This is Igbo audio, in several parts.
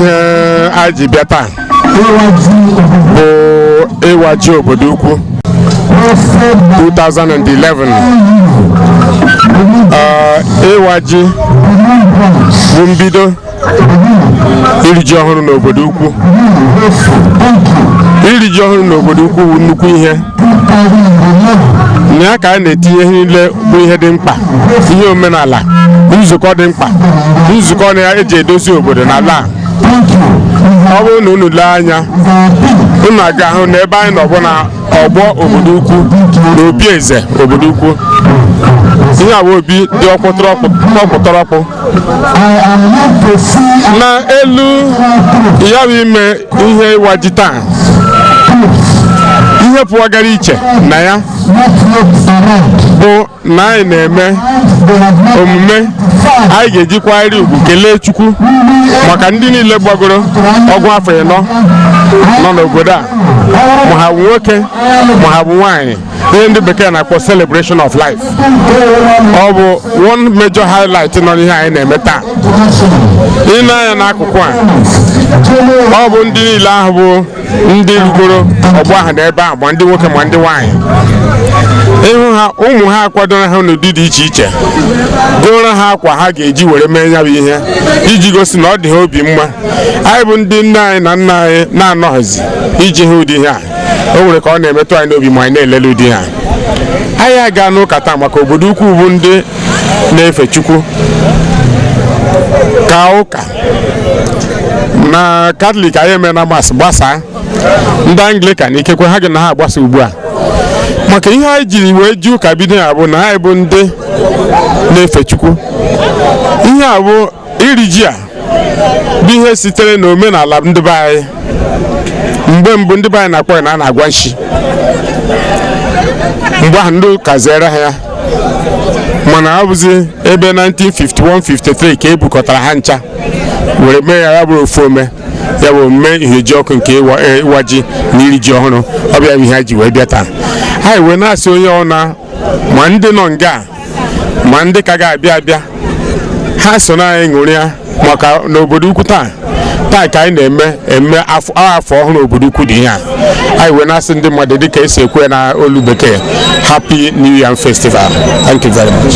ihe anyị ji bịa taa bụ ịwaji obodo ukwu 2011 Ee, ịwaji bụ mbido iri ji ọhụrụ n'obodo ukwu iri ji ọhụrụ n'obodo ukwu bụ nnukwu ihe na ya ka a na-etinye ihe niile bụ ihe dị mkpa ihe omenala nzukọ dị mkpa nzukọ na ya eji edozi obodo na ala a. ọ bụrụ na unu lee anya unu ga-ahụ na ebe anyị nọ bụ na ọgbọ obodo ukwu na obi eze obodo ukwu ihe a bụ obi dị ọkpụtọrọkpụ na elu ya bụ ime ihe ịwaji taa ihe pụwagara iche na ya bụ na anyị na-eme omume anyị ga-ejikwarị ugwu kelee Chukwu maka ndị niile gbagoro ọgụ afọ ịnọ nọ n'obodo a ma ha bụ nwoke ma ha bụ nwaanyị ihe ndị bekee na-akpọ celebration of life ọ bụ one major highlight nọ n'ihe anyị na-eme taa ị nee anya n'akụkụ a ọ bụ ndị niile ahụ bụ ndị rugoro ọgbọ ahụ na ebe ahụ ma ndị nwoke ma ndị nwaanyị ị hụ ha ụmụ ha akwadoro ha n'ụdị dị iche iche gooro ha akwa ha ga-eji were mee ya bụ ihe iji gosi na ọ dị ha obi mma anyị bụ ndị nne anyị na nna anyị na-anọghịzi iji hụ ụdị ihe a o nwere ka ọ na-emetụ anyị n'obi ma anyị na-elele ụdị ha anyị agaana ụka taa maka obodo ukwu bụ ndị na-efe chukwu ka ụka na katọlik anyị emena mas gbasaa ndị anglikan ikekwe ha gị na ha agbasa ugbu a maka ihe anyị jiri wee ji ụka bido ya bụ na anyị bụ ndị na-efe chukwu ihe a bụ iri ji a bụ ihe sitere na omenala ndị be anyị mgbe mbụ ndị be anyị na-akpọ ya na a na-agwa nshi mgbe ahụ ndị ụka zere ha ya mana ọ bụzi ebe 1951-53 ka e bukọtara ha ncha were mee ya bụrụ ofu ome ya bụ omume ihejiọkụ nke ịwaji na iri ji ọhụrụ ọ bụ ya bụ ihe anyị ji wee bịa taa anyị wee na-asị onye ọna ma ndị nọ nga ma ndị ka ga-abịa abịa ha so na anyị ṅụrịa maka n'obodo ukwu taa taa ka anyị na-eme eme afọ ọhụrụ obodo ukwu dị ihe a anyị wee na-asị ndị mmadụ dịka esi ekwu ya na olu bekee happy new yam festival thank you very much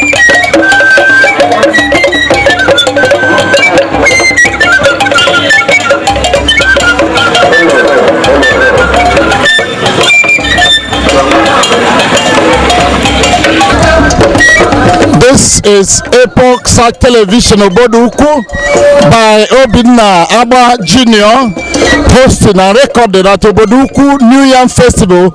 This is Epoch Sat Television Obodo Ukwu by Obinna Agba Junior hosting and recorded at Obodo Ukwu New Yam Festival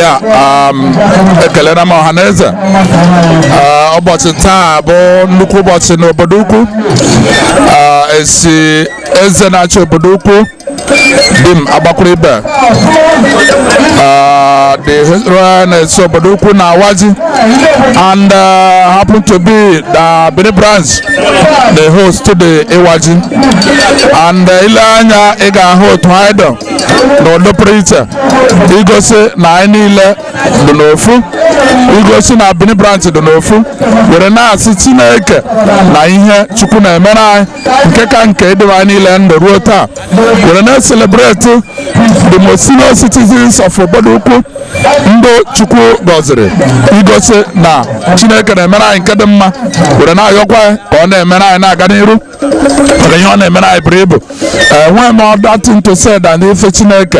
ya um, ekelere m ọha na eze Uh, ụbọchị taa bụ nnukwu ụbọchị n'obodo ukwu esi eze na-achị obodo ukwu dim agbakwuru ibe the historian esi obodo ukwu na-awa ji and uh, happen to be na Benin branch na-ehost the ịwa ji and uh, i lee anya ị ga-ahụ otu anyị dọ n'ụdị pụrụ iche igosi na anyị niile dị n'ofu igosi na Bini branch dị n'ofu were na-asị Chineke na ihe Chukwu na-emere anyị nke ka nke idebe anyị niile ndụ ruo taa were na-ecelebrate the most senior citizens of obodo ukwu ndị Chukwu gọziri igosi na Chineke na-emere anyị nke dị mma were na-ayọkwa ka ọ na-emere anyị na-aga n'iru maka ihe ọ na-emere anyị buru ibu enweghị m other thing to say than ife chineke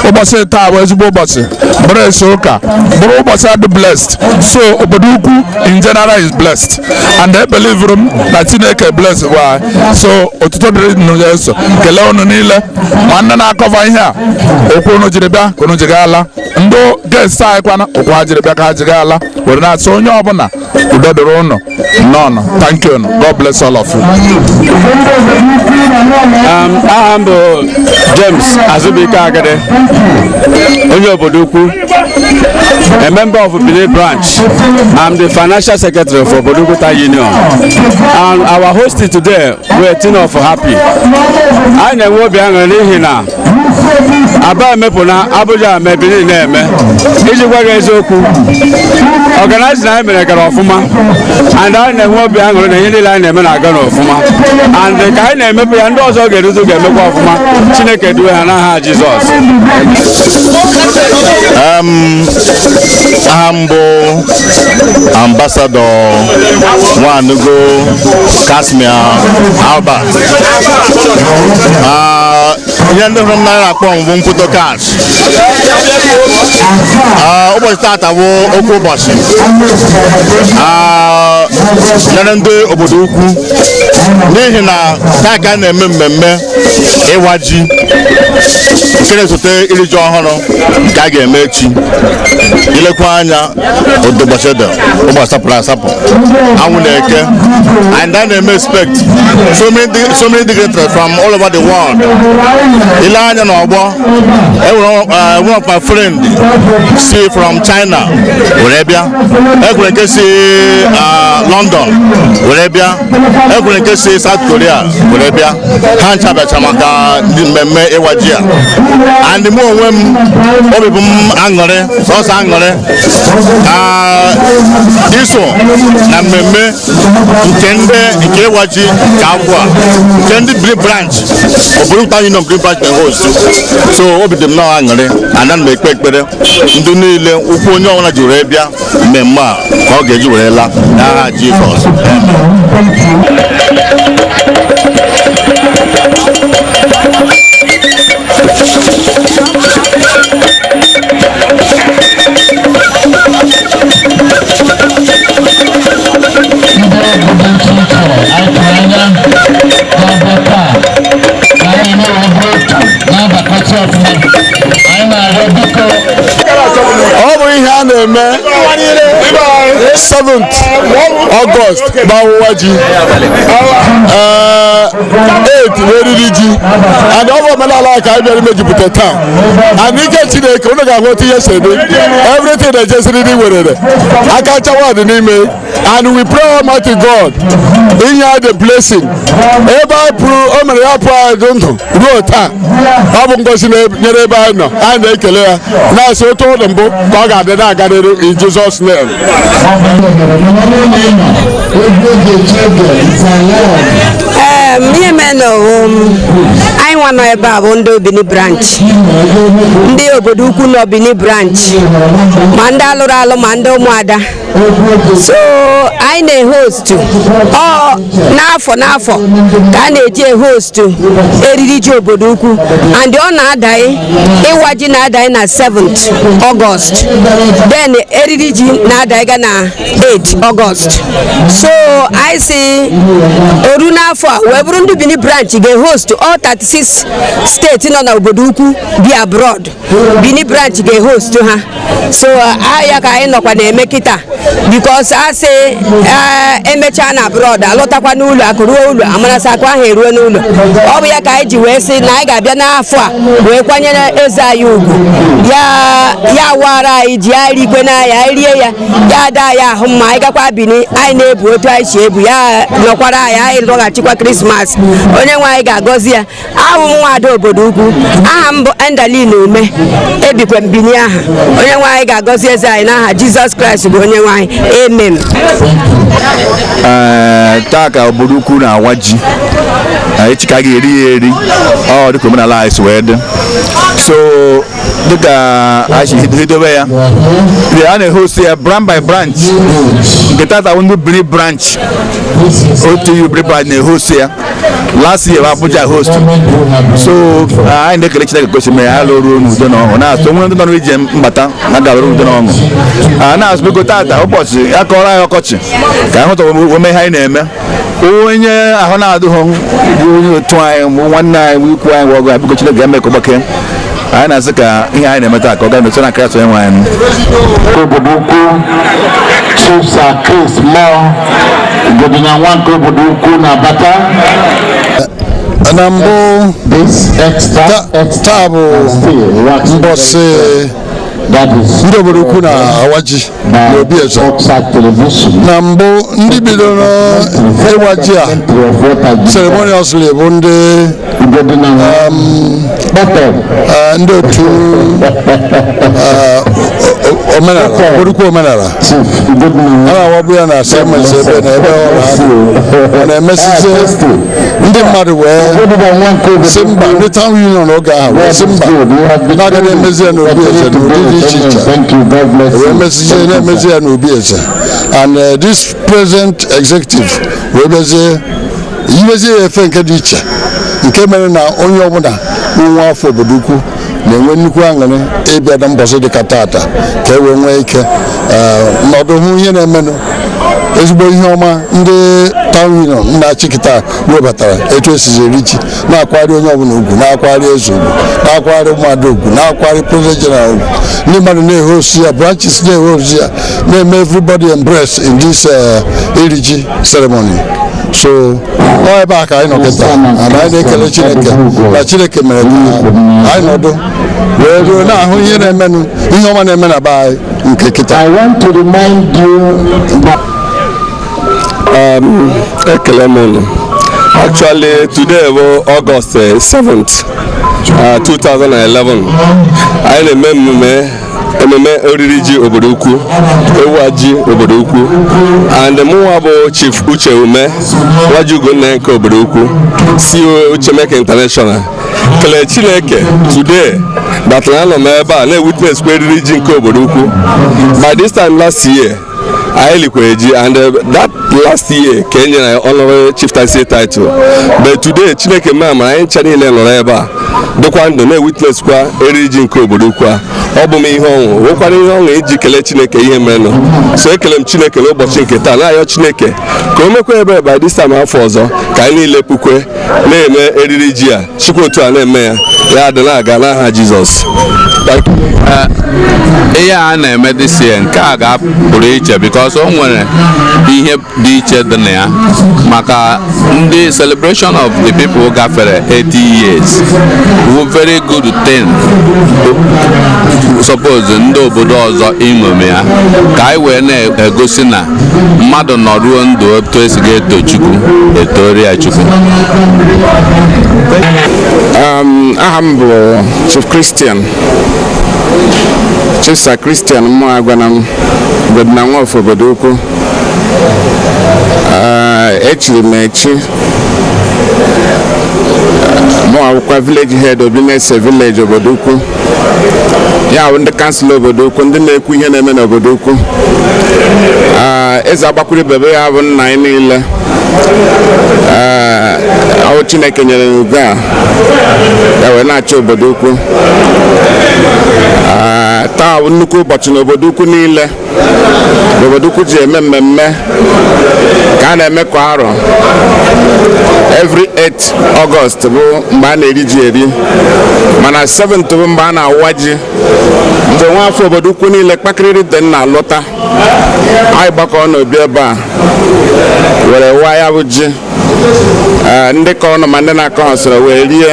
ụbọchị taa bụ ezigbo ụbọchị bụrụ esi ụka bụrụ ụbọchị a dị blessed so obodo ukwu in general is blessed and ebelivuru m na chineke bless bụ anyị so otuto dịrị nụ ya eso kelee unu niile nwanne na-acover ihe a ụkwụ unu jiri bịa ka unu ji ga-ala ndị guest anyị kwa na ụkwụ ha jiri bịa ka ha ji ga-ala were na-asị onye ọbụla udo dịrị unu Nnọọ nụ. Thank you. God bless all of you. Um, aha m bụ James Azubike Agade onye obodo ukwu a member of Benin branch I'm the financial secretary for Obodo Ukwu Town Union and our host today we're Tino for happy anyị na-enwe obi aṅụrị n'ihi na aba emepụna abuja eme bini na-eme iji gwa gị eziokwu organizing anyị mere gara ọfụma and anyị na-enwe obi aṅụrị na ihe niile anyị na-eme na-aga n'ọfụma and ka anyị na-emepụ ya ndị ọzọ ga-eruzu ga-emekwa ọfụma chineke duwe ha n'aha jizọs aha m bụ ambasadọ nwanugo casmir albert Ah, ihe ndị hụrụ m n'anya na-akpọ m bụ mkpụtọ cash Ah, ụbọchị taata bụ oke ụbọchị Ah, nyere ndị obodo ukwu n'ihi na taa ka a na-eme mmemme ịwa ji nke na-esote iri ji ọhụrụ nke a ga-eme echi i lekwa anya ọ dị ụbọchị dị ụbọchị sapụrụ asapụ anwụ na-eke and anyị na-eme expect so many dig- so many dignitaries from all over the world i lee anya na ọgbọ enwere uh, one of my friend si from china were bịa enwere nke si uh, london were bịa enwere nke si South Korea were bịa ha ncha bịacha maka mmemme ịwa ji a and mụ onwe m obi bụ m aṅụrị sọsọ aṅụrị iso na mmemme nke ndị nke ịwa ji nke afọ a nke ndị Bini Branch obodo ukwu town union Bini Branch na-ehost so obi dị m nnọọ aṅụrị ana m ekpe ekpere ndị niile ụkwụ onye ọbụla ji were bịa mmemme a ka ọ ga-eji were laa n'aha Jizọs Thank you. ọ bụ ihe a na-eme 7th August bụ ọwụwa ji ee 8 bụ eriri ji and ọ bụ omenala a ka anyị bịara imejupụta taa and ike Chineke unu ga-ahụ otu ihe si dị everything na-eje siriri werere aka nchawa dị n'ime and we pray almighty god inye the blessing ebe anyị pụrụ o mere ya pụọ anyị dị ndụ ruo taa ọ bụ ngozi nyere ebe anyị nọ anyị na-ekele ya na-asị otu ọ dị mbụ ka ọ ga-adị na-agarịrị in jesus name ihe mere na ọ bụ anyị nwa nọ ebe a bụ ndị obini branch ndị obodo ukwu nọ bini branch ma ndị alụrụ alụ ma ndị ụmụada so anyị na-ehostu ọ n'afọ n'afọ ka a na-eji ehostu eriri ji obodo ukwu and ọ na-adanye ịwa ji na-adanye na 7th August then eriri ji na-adanye ga na 8 August so anyị sị o ruo n'afọ a wee bụrụ ndị Bini branch ga-ehostu all 36 steeti nọ na obodo ukwu bi abroad Bini branch ga-ehost ha so ya ka anyị nọkwa na-eme kịta because a sị emechaa na abroad alọtakwa n'ụlọ akụ ruo ụlọ amara sị akụ ahụ eruo n'ụlọ ọ bụ ya ka anyị ji wee sị na anyị ga-abịa n'afọ a wee kwanyere eze anyị ugwu ya awaara anyị ji ya rigwe n'anya anyị rie ya ya adị anyị ahụ mma anyị gakwa bini anyị na-ebu otu anyị si ebu ya nọkwara anyị anyị lọghachikwa krismas onye nwe anyị ga-agọzi ya awụ m nwaada obodo ukwu aha m bụ endaline ume ebikwa m Bini aha onye nwe anyị ga-agọzi eze anyị n'aha jizọs kraịst bụ onye nwe anyị amen ee taa ka obodo ukwu na-awa ji Ee, echi ka a ga-eri ya eri ọ dịka omenala anyị si wee dị so dịka anyị si hid- hidobe ya ee, a na-ehost ya branch by branch nke tata bụ ndị Bini branch otu Bini branch na-ehost ya last year Abuja host so uh, anyị na-ekele Chineke ka o si mere ha lụrụ n'udo na ọṅụ na-asị o nwee ndị nọ n'ije mbata na-aga n'udo na ọṅụ uh, na-asị biko tata ụbọchị ya kọrọ anyị ọkọchị ka anyị hụta ome ihe anyị na-eme onye ahụ na-adịghị bụ onye otu anyị nwanne anyị ikwu anyị ọgọ biko Chineke ga-eme ka ọ gbakee anyị na-asị ka ihe anyị na-eme taa ka ọ gaa n'otu na Kraịst onye nwe anyị obodo ukwu Chief Sir Chris Muo Igodinya nwa nke obodo ukwu na-abata na mbụ taa bụ mbọsị ndị obodo ukwu na-awa ji n'obi eze na mbụ ndị bidoro ịwa ji a ceremoniously bụ ndị eh, ndị otu eh, omenala obodo ukwu omenala a na-awabu ya na asemesi ebe na ebe ọ na-emesizi ndị mmadụ wee si mba ndị town union oge ahụ wee si mba na a ga na-emezi ya n'obi eze n'ụdị dị iche iche wee mezie na-emezi ya n'obi eze and uh, this present executive wee mezie yiwezie ya efe nke dị iche nke mere na onye ọbụla nwa afọ obodo ukwu na-enwe nnukwu aṅụrị ịbịa na mbọsị dịka tata ka e wee nwee ike eh, nọdụ hụ ihe na-emenụ ezigbo ihe ọma ndị town union na-achị kịta webatara etu e sizi eri ji na-akwari onye ọbụla ugwu na-akwari eze ugwu na-akwari ụmụada ugwu na-akwari president general ugwu ndị mmadụ na-ehost ya branches na-ehost ya na-eme everybody embracing this eh, iri ji ceremony so ọ ebe a ka anyị nọ kịta and anyị na-ekele chineke na chineke mere ka anyị nọdụ wee ruo na-ahụ ihe na-emenụ ihe ọma na-eme na be anyị nke kịta I want to remind you that Um, ekele m unu actually today bụ August eh, 7th uh, 2011 anyị na-eme emume ememe oriri ji obodo ukwu ịwa ji obodo ukwu and mụnwa bụ chief uche ume nwaji ugonne nke obodo ukwu CEO uchemeke international kelee chineke today that na anọ m ebe a na-ewitness kwa oriri ji nke obodo ukwu by this time last year anyị likwere ji and uh, that last year ka e nyere honorary chieftaincy title but today chineke memara anyị ncha niile nọrọ ebe a dịkwa ndụ na-ewitness kwa eriri ji nke obodo ukwu a ọ bụ m ihe ọṅụ wụkwara ihe ọṅụ iji kelee chineke ihe merenụ so ekele m chineke n'ụbọchị nke taa na-ayọ chineke ka o mekwa ebe by this time afọ ọzọ ka anyị niile pukwe na-eme eriri ji a shikwa otu a na-eme ya ya dị na-aga n'aha jizọs ihe a na-eme this year nke a ga-apụrụ iche because o nwere ihe dị iche dị na ya maka ndị celebration of the people gafere 80 years wụ very good thing suppose ndị obodo ọzọ iṅomi ya ka anyị wee na-egosi na mmadụ nọruo ndụ otu esi ga-eto Chukwu e tooro ya Chukwu um, aha m bụ Chief Christian Chief Sir Christian Mụagwana m bụ diana nwa afọ obodo ukwu uh, echiri m echi mụa wụkwa village head Obinese village obodo ukwu ya bụ ndị kansụl obodo ukwu ndị na-ekwu ihe na-eme n'obodo ukwu Ah, eze Agbakwuruibe bụ ya bụ nna anyị niile Ah, ọ wụ chineke nyere ya ugo a ya wee na-achị obodo ukwu Ah, taa bụ nnukwu ụbọchị n'obodo ukwu niile obodo ukwu ji eme mmemme ka a na-eme kwa arọ every 8 August bụ mgbe a na-eri ji eri mana 7th bụ mgbe a na-awa ji mgbe nwa afọ obodo ukwu niile kpakịrịrị dị na-alọta anyị gbakọ n'obi ebe a were waa ya bụ ji eh, ndị kọrọnụ ma ndị na-akọhọ soro wee rie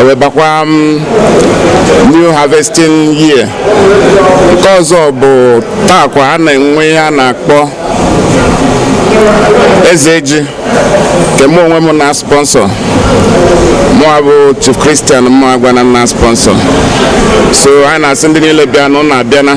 wee bakwa mm, new harvesting year nke ọzọ bụ taa kwa a na-enwe ihe a na-akpọ eze ji nke mụ onwe m na sponsọ mụa bụ chief christian mụagwana na sponsọ so anyị na-asị ndị niile bịa na ụnụ abịana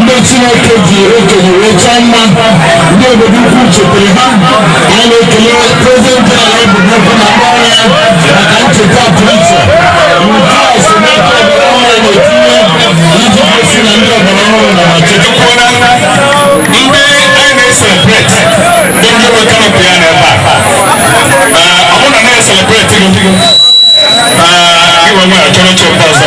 ndị chineke ji okenye wee chọọ mma ndị obodo ukwu chetere ha anyị na-ekele prezident jeneral obodo ukwu na ndị ọrụ ya maka ncheta pụrụ iche nke a si n'aka ọgbara ọhụrụ na-etinye iji gosi na ndị ọgbara ọhụrụ na ma chetakwa na ndị anyị na-eselebreti ndị ndị nwe kanopị ya n'ebe a ọ bụrụ na na-eselebreti gị gị nwe nwere chọrọ oche ọzọ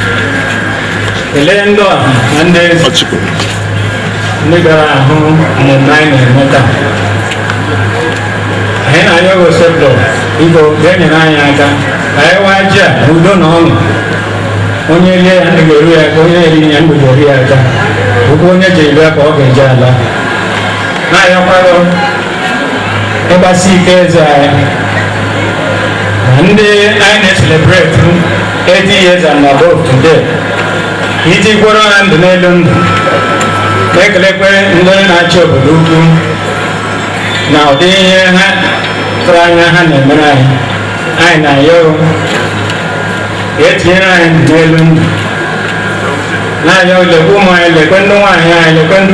kelee ndị ọha na ndị eze Ọchịkọ. ndị bịara ahụ mmemme anyị na-eme taa anyị na-ayọ gị osebụlụwa biko ga-enyere anyị aka ka anyị waa ji a n'udo na ọṅụ onye rie ya ndụ ga-eru ya aka onye eri ya ndụ ga-eru ya aka ụkwụ onye ji bịa ka ọ ga-eji ala na-ayọkwa gị ịgbasi ike eze anyị na ndị anyị na-eselebreti 80 years and above today i tikwara ha ndụ n'elu ndụ na-ekelekwe ndị na-achị obodo ukwu na ụdị ihe ha tụrụ anya ha na-emere anyị anyị na-ayọ i tinyere anyị ndụ n'elu ndụ na-ayọ lekwe ụmụ anyị lekwe ndị nwaanyị anyị lekwe ndị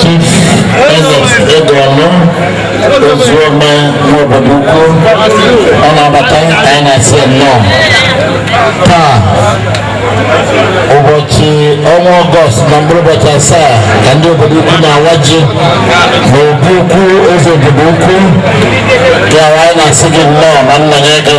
Chief Ernest Edeọma Ozuome n'obodo ukwu ọ na-abata ka anyị na-asị ya nnọọ taa ụbọchị ọnwa ọgọst na mkpụrụ ụbọchị asaa ka ndị obodo ukwu na-awa ji n'obi ukwu eze obodo ukwu ya anyị na-asị gị nnọọ na nna ya gị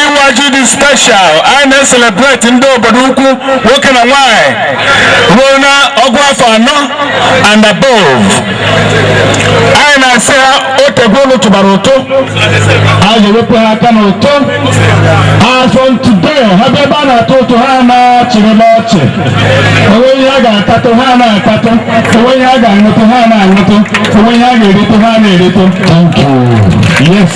ịwaji dị special anyị na-eselebreti ndị obodo ukwu nwoke na nwanyị ruo na ọgụ afọ anọ and above anyị na-asị ha o tegwo unu tụbara ụtụ a ga-ewepụ ha aka n'ụtụ as from today ha bịa ebe a na-atụ ụtụ ha na-achịrị n'ọchị o nwee ihe a ga-atatụ ha na-atatụ o nwee ihe a ga-aṅụtụ ha na-aṅụtụ o nwee ihe a ga-eritụ ha na-eritụ thank you yes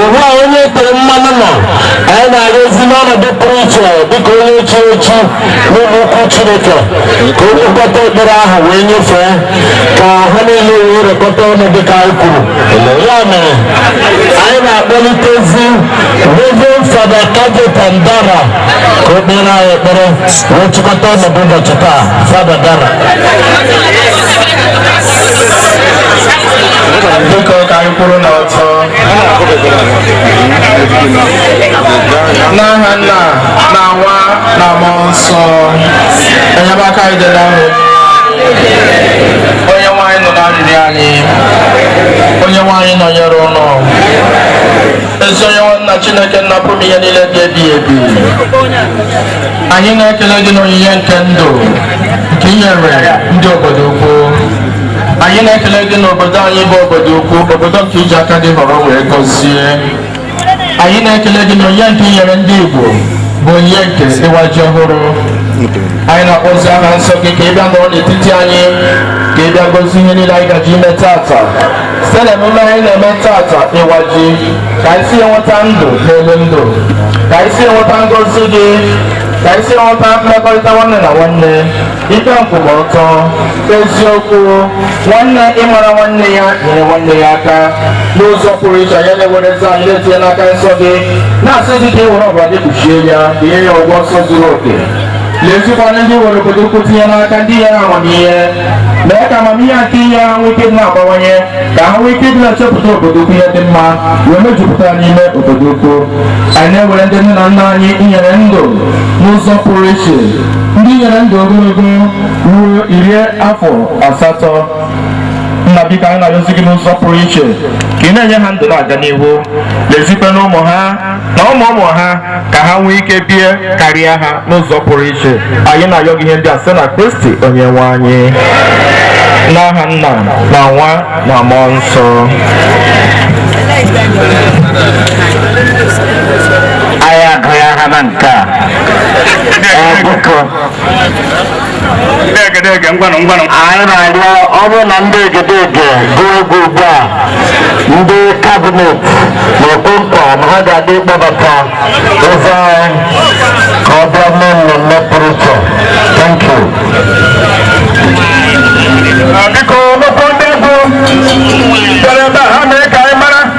ugbu a onye e tere mmanụ nọ anyị na-ayọzi n'ọnọdụ pụrụ iche dịka onye echichi n'ụlọ ukwu chineke ka ọ chịkọta ekpere ahụ wee nyefee ka ha niile wee rekọta ọnụ dịka anyị kwuru ya mere anyị na-akpọlitezi reverend fada cajetan dara ka o kpeere anyị ekpere wee chịkọta ọnọdụ ụbọchị taa fada dara n'aha nna na nwa na mmụọ nsọ enyemaka anyị dị n'aha onye nwe anyị onye nwe anyị nụrụ arịrịọ anyị onye nwe anyị nọnyere unu ezi onye nwe anyị na chineke nna pụrụ ihe niile dị ebighị ebi anyị na-ekele gị n'onyinye nke ndụ nke i nyere ndị obodo ukwu anyị na-ekele gị n'obodo anyị bụ obodo ukwu obodo nke i ji aka gị họrọ wee gọzie anyị na-ekele gị n'onyinye nke i nyere ndị Igbo bụ onyinye nke ịwa ji ọhụrụ anyị na-akpọzi aha nsọ gị ka ị bịa nọrọ n'etiti anyị ka ị bịa gọzie ihe niile anyị gaji ime taata site na emume anyị na-eme taata ịwa ji ka anyị si enweta ndụ n'elu ndụ ka anyị si enweta ngọzi gị ka anyị si enweta mmekọrịta nwanne na nwanne ikpe nkwụmọtọ eziokwu nwanne ịmara nwanne ya nyere nwanne ya aka n'ụzọ pụrụ iche anyị na-ewere eze anyị na-etinye n'aka nsọ gị na-asị gị ka i were ọbara gị kpuchie ya ka i nye ya ugwu nsọ zuru oke lezikwa anya ndị i were obodo ukwu tinye n'aka ndị i nyere amamihe mee ka amamihe nke i nyere ha nwee ike dị na-abawanye ka ha nwee ike dị na-echepụta obodo ukwu ihe dị mma wee mejupụta n'ime obodo ukwu anyị na-ewere ndị nne na nna anyị i nyere ndụ n'ụzọ pụrụ iche ndị i nyere ndụ ogologo ruo iri afọ asatọ nna biko anyị na-arịọzi gị n'ụzọ pụrụ iche ka ị na-enye ha ndụ na-aga n'ihu lezikwa anya ụmụ ha na ụmụ ụmụ ha ka ha nwee ike bie karịa ha n'ụzọ pụrụ iche anyị na-arịọ gị ihe ndị a site na kristi onye nwe anyị n'aha nna na nwa na mmụọ nsọ anyị agụghị aha na nke a anyị na-arịọ ọ bụrụ na ndị egedege gụọ egwu ugbu a ndị kabinet na-ekwe nkwa na ha ga-adị ịkpọbata eze anyị ka ọ bịa mee mmemme pụrụ iche thank you biko o nwekwuo ndị egwu bịara ebe a ha mee ka anyị mara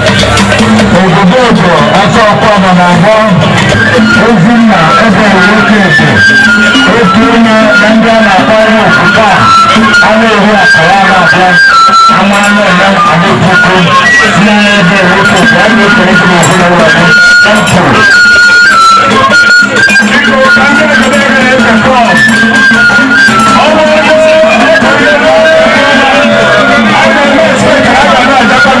obodo ojo ọsọ ọkwa nọ na abụọ ozi nna ebe nwoke eke otu onye na ndị a na-akpọ ihe ofufe a a na-ehu akara a na-akpọ ama anụ ọma adịpụkụ si n'anya ebe nwoke eke a na-ekere gị n'ahụ na ụlọ gị na mkpụrụ Thank you.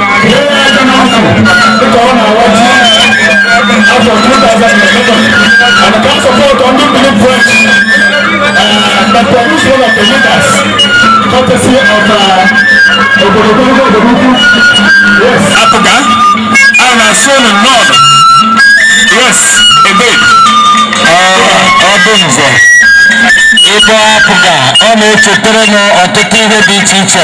Apụga, a na-asụ unu n'ọdụ. Yes, ebe. Ọ bụ nze. Ebe apụga, ọ na-echetara m ọtụtụ ihe dị iche iche.